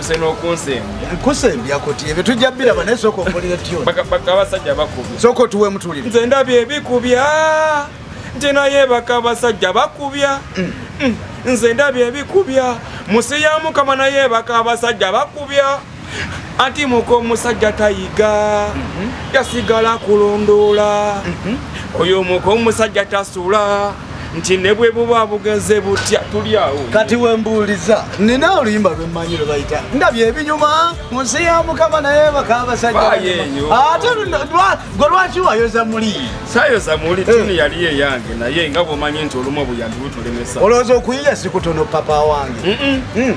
nze nokunsembya kusembya kuti ebyo tujja biraba naye sooka okolire tyoni bakabaka abasajja bakubya sooka otuwe mutulire nze ndabye ebikubya nti naye baka abasajja bakubya mm. Mm. nze ndabye ebikubya musi ya mukama naye baka abasajja bakubya anti muka omusajja tayiga mm-hmm. yasigala kulondoola mm-hmm. oyo muka omusajja tasula nti ne bwe buba bugenze butya tuli awo kati wembuuliza nina oluyimba lwemmanyi lwe bayita ndabye ebinyuma mu nsi ya mukama naye bakabasajja ate gwe lwaki wayoza muli sayoza muli eh. tini yali eyange naye nga bwomanyi nti olumu obuyandibutulemesa olowooza okuyiya sikutono papa wange mm.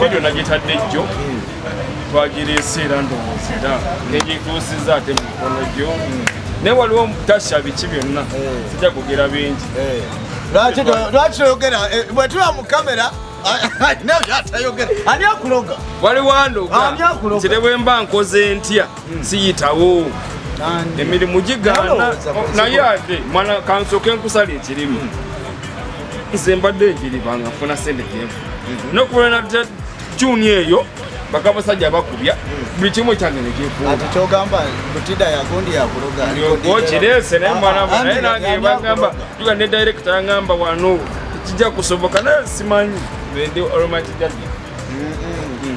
vidiyo nagitadde jjo twagireese era ndowooza era negituusiza ate mu mikono gyo naye waliwo tasha biki byonna sijja kugera bingi lwaki toyogera bwetuba mu kamera ani akuloga waliwo andoga nti ne bwemba nkoze ntya hmm. siyitawo emirimu gigaana naye ate mwana kansoke nkusala ekirimu hmm. nze mbadde njiriba nga funa sente gyevu hmm. nokulana juni eyo bakabasajja bakubya buli kimu kyange nekikuokirese naye mwana naye nange bagamba juga ne direkita yangamba wano kijja kusoboka naye simanyi bende olomakijajja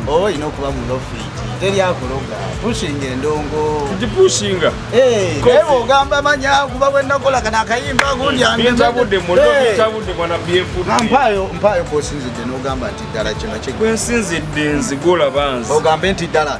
oba olina okuba mulofiiti teri akuloga pushinga endongo tugipushinga eh, naye ogamba manya kuba bwenakola kana akayimba gundyampaayo mpayo kosinzidde nogamba nti ddala kino kigwensinzidde nzigula banzi ogambe nti ddala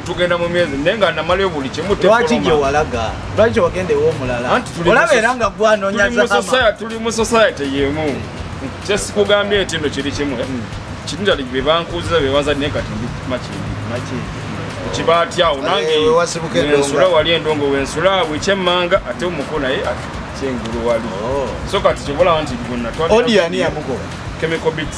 tugenda mu myezi naye nga namalayo buli kimu lwaki gye walaga lwaki wagenda ew'omulala olaba era nga gwanonya zahama tuli mu society yemu kyesikugambye nti no kiri kimu eh? hmm. kinjali be bankuuziza be banza naye kati ndi makindi kiba atyawo nange wensula wali endongo wensula wekyemmanga ate omuko naye kyengulu wali oh. so kati kyobola nti gonna twaliodiani yamugoba chemical bits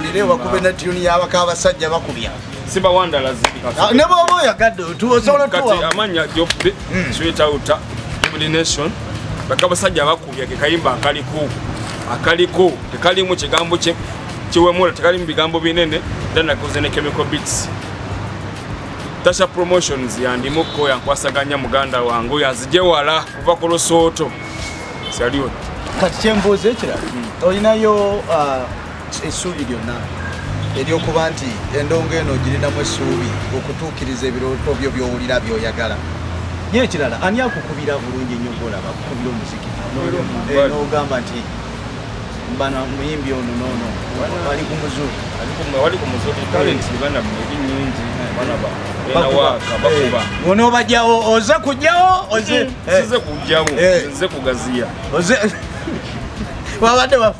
Nderewa kube na tune ya baka abasajja bakubya. Simba wanda lazima. Ah, ne bobo ya gado tu osola tu. Kati amanya jobbe hmm. sweet out every nation. Baka abasajja bakubya ke kayimba akali ku. Akali ku tekali mu kigambo kye kiwe mura tekali mu bigambo binene then akoze ne chemical beats. Tasha promotions ya ndi muko ya kwasaganya muganda wangu ya zije wala kuva ku losoto. Salute. Kati chemboze kira. Hmm. Olinayo uh, essuubi lyonna eryokuba nti endongo eno ogirinamu essuubi okutuukiriza ebirooto byo byowulira byoyagala naye ekirala ani akukubira bulungi ennyo golaba akukubira omuziki nogamba nti bana muyimbi ono nono ali ku muzuli wali ku muzuli talent bana muyimbi nyingi bana ba onobajawo oze kujawo oze kujawo oze kugaziya oze wabadde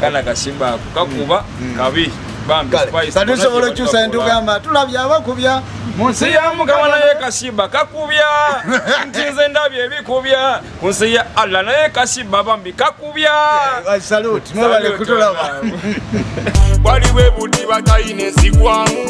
kana kasimba ako kakuba mm. mm. kabi katusobola okyusa entugamba tulabye abakubya mu nsi ya mukama naye kasimba kakubya nti nze ndabye ebikubya ku nsi ya allah naye kasimba bambi kakubya waliwo ebudiba tayina ezigwamu